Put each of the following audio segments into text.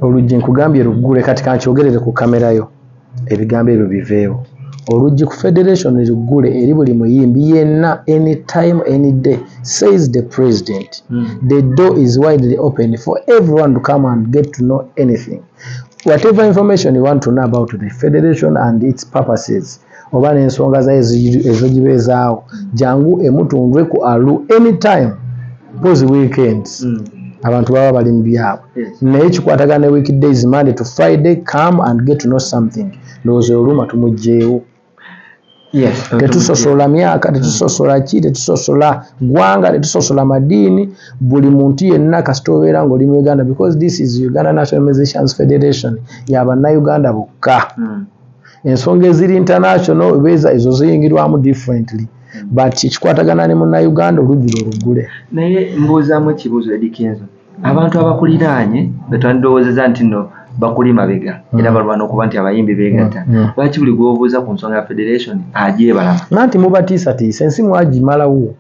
Oluggi nkugambye luggule kati kankyogerere ku camera yo ebigambo ebyo biveewo. Oluggi ku federation luggule eri buli muyimbi yenna any time any day says the president. Mm. The door is widely open for everyone to come and get to know anything whatever information you want to know about the federation and its purposes. oba n'ensonga zayo ezogiba ezaawo jangu emutunve ku alu anytime pozi weekends mm. abantu baba bali mu byabwe naye kikwatagana ne week days monday to friday come and get to know something ndowooza oluma tumugyewo tetusosola myaka tetusosola mm. ki tetusosola gwanga tetusosola madiini buli muntu yenna kasita obeera ngaoli mu uganda because this is uganda nationalizations federation yabanauganda bokka mm. ensonga eziri international obeeza ezo ziyingirwamu differently but kikwatagana ne munnayuganda oluggi lwe luggule naye mbuuzamu ekibuuzo edikenzo abantu abakuliraanye betwandirowoozeza nti no bakuli mabega mm. era balwana okuba nti abayimbi begatta mm. mm. lwaki buli gwobuuza ku nsonga ya federation ajebalama nanti mubatiisatiisa ensi mwagimalawo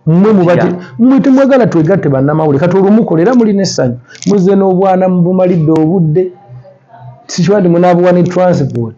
mwe mubati mwe temwagala twegatte bannamawulire kati olumukola era muli n'essanyu muzze n'obwana mubumalidde obudde sikiba nti munaabuwa ne transport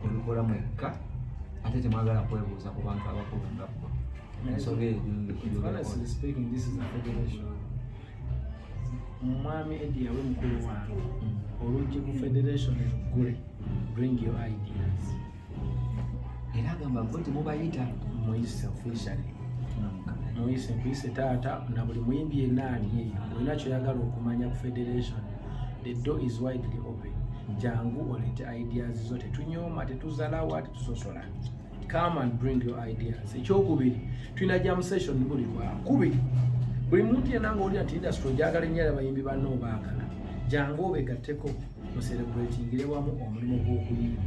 Mubikola mwekka ate temwagala kwebuuza ku bantu abakulu nga bo. Ensonga eyo omwami edi yawe mukulu wange mm. oluggi ku federation eluggule bring your ideas era agamba bo temubayita muyise officially muyise nkuyise taata na buli muyimbi yenna ali eyo olina kyoyagala okumanya ku federation the door is widely open jangu oleete ideas zo tetunyooma tetuzalawa tetusosola come and bring your ideas ekyokubiri tulina jam session buli lwakubiri buli muntu yena nga olina ti industry ojagala ennyo era bayimbi banna obaagala jangu obegatteko muserebulatingire wamu omulimu gw'okuyimba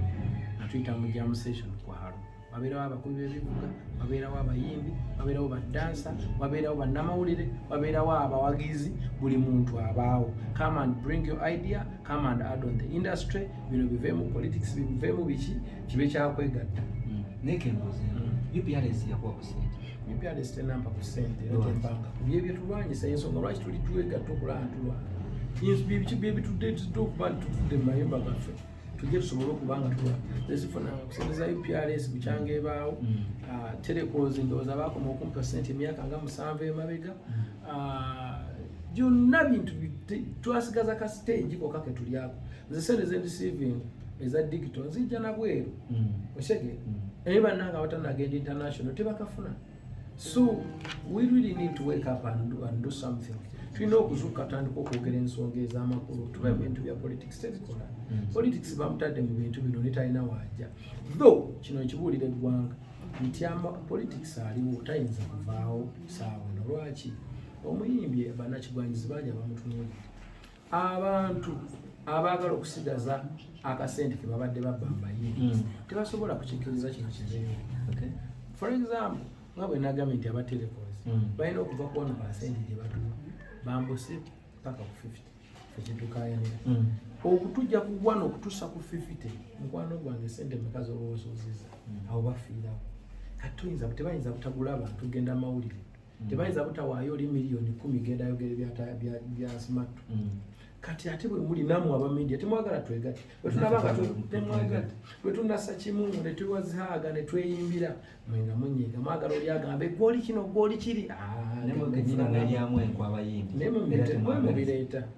atuyita mu jam session kwalo wabeerawo abakubi b'ebivuga wabeerawo abayimbi wabeerawo badansa wabeerawo bannamawulire wabeerawo abawagizi buli muntu abaawo come and bring your idea come and add on the industry bino biveemu politics biveemu biki kibe kyakwegatta hmm. naye kembuuze hmm. uprs yakuwa ku sente uprs tenampa ku sente era tembanga bye byetulwanyisa ensonga lwaki tuli twegatta okulantulwa byebitudde okuba nti tuvudde mu mayumba gaffe tujje tusobole okuba nga tuwa tezifuna kusente za uprs bukyanga ebaawo mm. ah, telecos ndowooza baakoma okumpa sente emyaka nga musanvu emabega mm. ah, byonna bintu twasigaza ka stage koka ke tulyako nze sente zendisivinga eza digito nzijja nabweru mm. osege naye bannanga abatanagenda international tebakafuna mm. So we really need to wake up and do, and do something. tulina okuzuuka tandika okwogera ensonga ez'amakulu tuba ebintu bya politics tebikola mm. politics bamutadde mu bintu bino netalina waaja though kino nkibuulira eggwanga nti ama politics aliwo tayinza kuvaawo saawa nolwaki omuyimbi banakigwanyizi bangi abamutunuulira abantu abaagala okusigaza akasente ke babadde babambaye hmm. tebasobola kukikkiriza kino kizeeyo for example nga bwe nagambye nti aba telecos hmm. balina okuva kuwano kasente gye batuwa bambuse paka ku 50 ekitukayanira hmm. okutujja ku wano okutusa ku 50 mukwano gwange sente meka zobaosuuziza awo bafiirawo kati tuyinza tebayinza butagula abantu genda mawulire tebayinza butawaayo oli miliyoni kumi genda ayogere byasimattu mm. kati ate bwemuli namwe aba media temwagala twegate bwetunabanga temwagate bwetunasa kimu netwewazihaaga netweyimbira mwenga munyiga mwagala oli agambe gwoli kino gwoli kiri ah, naye mubireeta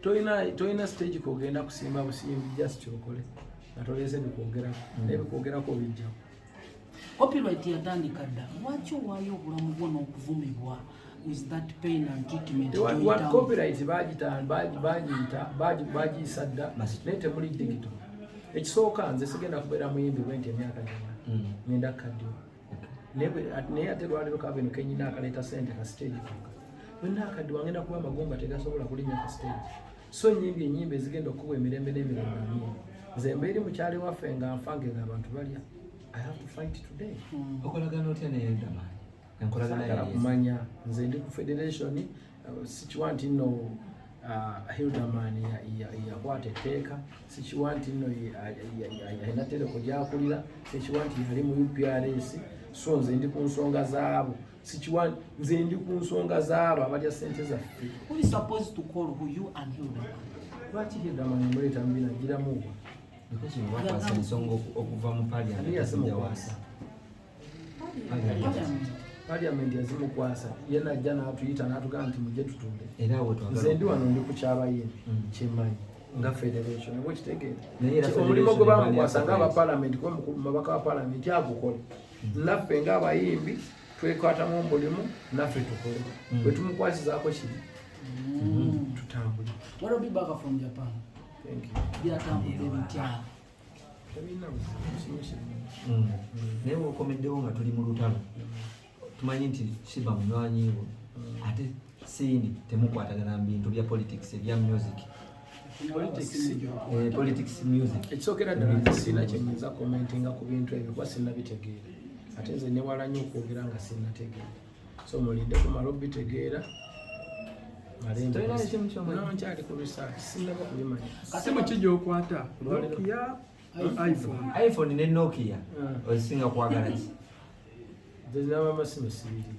tolina tolina stage kogenda kusimba busimbi just okole nga toleese bikwogerako mm. naye bikwogerako bijjawo copyright yatandika dda lwaki owaayo obulamu bwo n'okuvumibwa with that pain and treatment what, what copyright bagita bagiyita bagiyisa dda naye temuli digito ekisooka nze sigenda kubeera muyimbi bwenti emyaka gyona mm. ngenda kukaddiwa naye ate lwaliro kaveno kenyina akaleeta sente ka stage konka yonna akadde wange nakuba amagumba tegasobola kulinya ka stage so nyimbi enyimba ezigenda okukuba emirembe n'emirembe amin nze mbeeri mukyali waffe nga nfange nga abantu balya i have to fight today hmm. okolagana otya neyedamaanyi enkolagana kumanya nze ndi ku federation sikiwa nti nno uh, hilderman yakwata etteeka sikiwa nti nno alina tereko gyakulira sikiwa nti yali mu uprs so nze ndi ku nsonga zaabo sikiwa nze ndi ku nsonga zaabo abalya sente zaffe lwaki hilderman muleeta mubina giramuwa ensonga okuva mu paliamenti parliament yazimukwasa ye najja n'atuyita n'atugamba nti mujje tutunde nze ndi wano ndi ku kyabaye mm. kyemanyi nga federation oba okitegeera omulimu gwe bamukwasa nga abapalamenti kuba mukulu mabaka wa palamenti agukole mm. naffe nga abayimbi twekwatamu omulimu naffe tukole mm. bwe tumukwasizaako kiri tutambule byatambudde bitya Mm. naye wokomeddewo nga tuli mu lutalo tumanyi nti shiba munywanyiwo mm. ate siini temukwatagana mu bintu bya politics ebya music politics eh, music ekisookera ddala nti siina kyenyinza commentinga ku bintu ebyo kuba sinabitegeera ate nze newala nyo okwogera nga sinategeera so mulinde kumala obitegeera nkyali ku research sinaba kubimanya kati muki gyokwata nokia iphone iphone ne nokia ah. ozisinga kwagala ki zinaba amasimu sibiri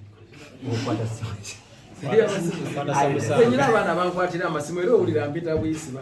okwata simu nyina abaana bankwatira amasimu era owulira mpita buyisiba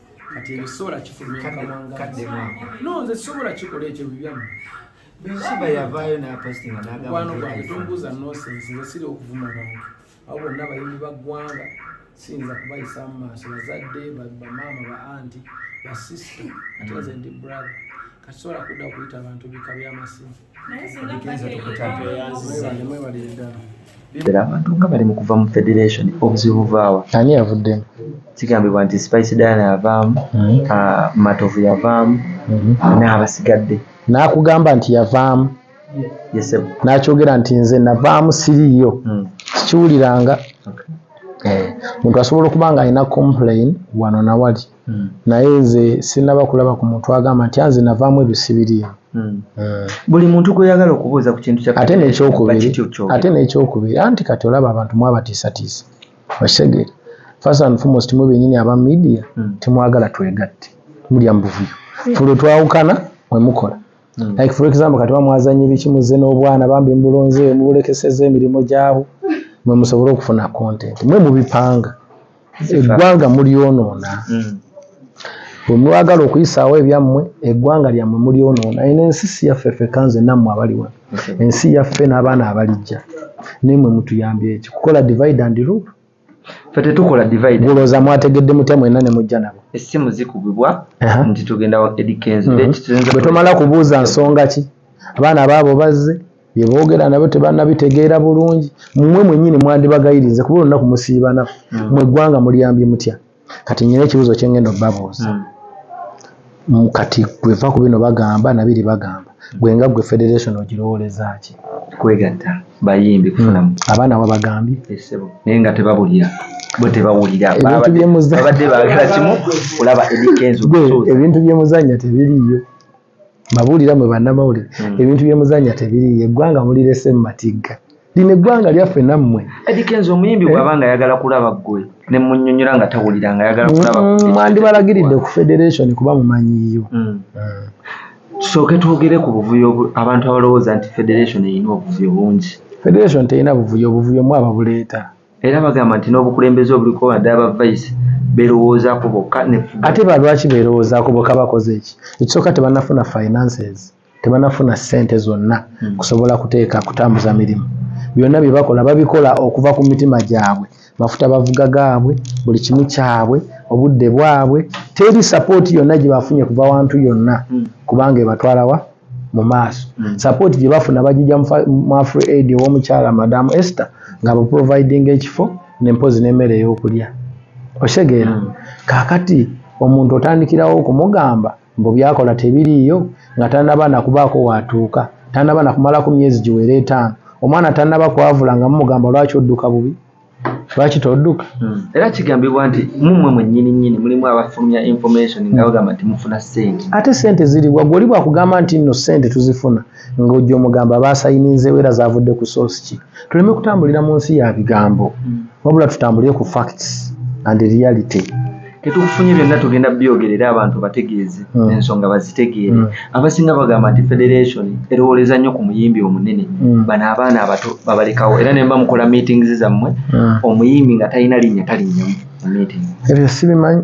kati ebyo sobola kifulumya mukamwanganno nze sobola kikola ekyo bibyamu shiba yavaayo napostinga nagwano gwange tombuuza nosensi nze siri okuvuma bantu abo bonna bayimbi ba ggwanga siyinza kubayisa mu maaso bazadde bamaama ba anti basisita ate nze ndi brother kati sobola kudda okuyita abantu bika byamasimu era abantu nga bali mu kuva mu federation obuzibu buvaawa ani yavuddemu kigambibwa nti spice diana yavaamu hmm. ah, matovu yavaamu hmm. n'abasigadde n'akugamba nti yavaamu n'akyogera nti nze navaamu siriiyo hmm. sikiwuliranga eh, muntu asobola okuba nga alina complain wano nawali Hmm. naye nze sinaba kulaba ku muntu agamba nti anze navaamu ebisibiriini hmm. hmm. buli muntu gweyagala okubuuza ku kintu ate nekyokubiri ate nekyokubiri anti kati olaba abantu mwabatiisatiisa okitegere first and foremost mwe benyini aba media temwagala twegatte mulya mu buvuyo fulwe twawukana mwe mukola like for example kati bamwazanya ebiki muzze n'obwana bambi mubulonze mubulekeseza emirimu gyabo mwe musobole okufuna content mwe mubipanga eggwanga mulyonoona hmm. bwe mwagala okuyisaawo ebyammwe eggwanga lyammwe mulyonoona eno ensi si yaffe ffe kanze nammwe abali wano ensi yaffe n'abaana abalijja naye mwe mutuyambye eki kukola divide and rule fe tetukola divide bulooza mwategedde mutya mwena ne mujja nabo essimu zikubibwa nti tugenda wa edikenzo mhm. bwe tomala kubuuza nsonga ki abaana baabo bazze bye boogera nabo tebannabitegeera bulungi mmwe mwennyini mwandibagayiriza kuba olunaku musiiba naku hmm. mwe eggwanga muliyambye mutya kati nyina ekibuuzo kye ngenda obabuuza hmm. kati gweva ku bino bagamba nabiri bagamba gwe nga gwe federation ogirowoleza ki kwegatta bayimbi kufunamu hmm. abaana wabagambye naye nga tebabulira bo tebawulira babadde baagala kimu kulaba edikenzo ebintu byemuzannya tebiriiyo Mbabuulira mwe bannamawulire hmm. ebintu bye muzannya tebiriiyo eggwanga mulirese mu matigga lino eggwanga lyaffe nammwe edikenzi omuyimbi eh? bw'aba nga ayagala kulaba ggwe ne munnyonnyola nga tawulira nga ayagala kulaba hmm, mwandibalagiridde ku federation kuba mumanyiyo hmm. tusooke twogere ku buvuyo abantu abalowooza nti federation erina obuvuyo bungi federation terina buvuyo obuvuyo mwaba buleeta Era bagamba nti n'obukulembeze obuliko wadde aba vice berowoozako bokka ne ate ba lwaki berowoozako bokka bakoze eki ekisooka tebanafuna finances tebanafuna ssente zonna hmm. kusobola kuteeka kutambuza mirimu byonna bye bakola babikola okuva ku mitima gyabwe mafuta bavuga gaabwe buli kimu kyabwe obudde bwabwe teri sapooti yonna gye bafunye kuva wantu yonna hmm. kubanga ebatwalawa mu maaso mm. support gye bafuna bagijja mu afri aid ew'omukyala madamu ester nga baproviding ekifo nempozi n'emmere ey'okulya osegeera mm. kakati omuntu otandikirawo okumugamba mbu byakola tebiriiyo nga tanaba nakubaako waatuuka tanaba nakumalaku myezi giwera etaano omwana tanaba kwavula nga mumugamba lwaki odduka bubi lwaki toduka hmm. era kigambibwa nti mumwe mwenyini nyini mulimu abafulumya information nga bagamba nti mufuna sente ate sente ziriwa gwoli bwakugamba nti nno sente tuzifuna ng'ojja omugamba baasayininzewo era zavudde ku source ki tuleme kutambulira mu nsi ya bigambo hmm. wabula tutambulire ku facts and reality tetukufunye byonna tugenda byogerera abantu bategeeze hmm. ensonga bazitegeere hmm. abasinga bagamba nti federation erowooleza nnyo ku muyimbi omunene hmm. bano abaana abato babalekawo era nemba mukola meetings zammwe omuyimbi nga talina linnya talinnya mu meeting ebyo sibimanyi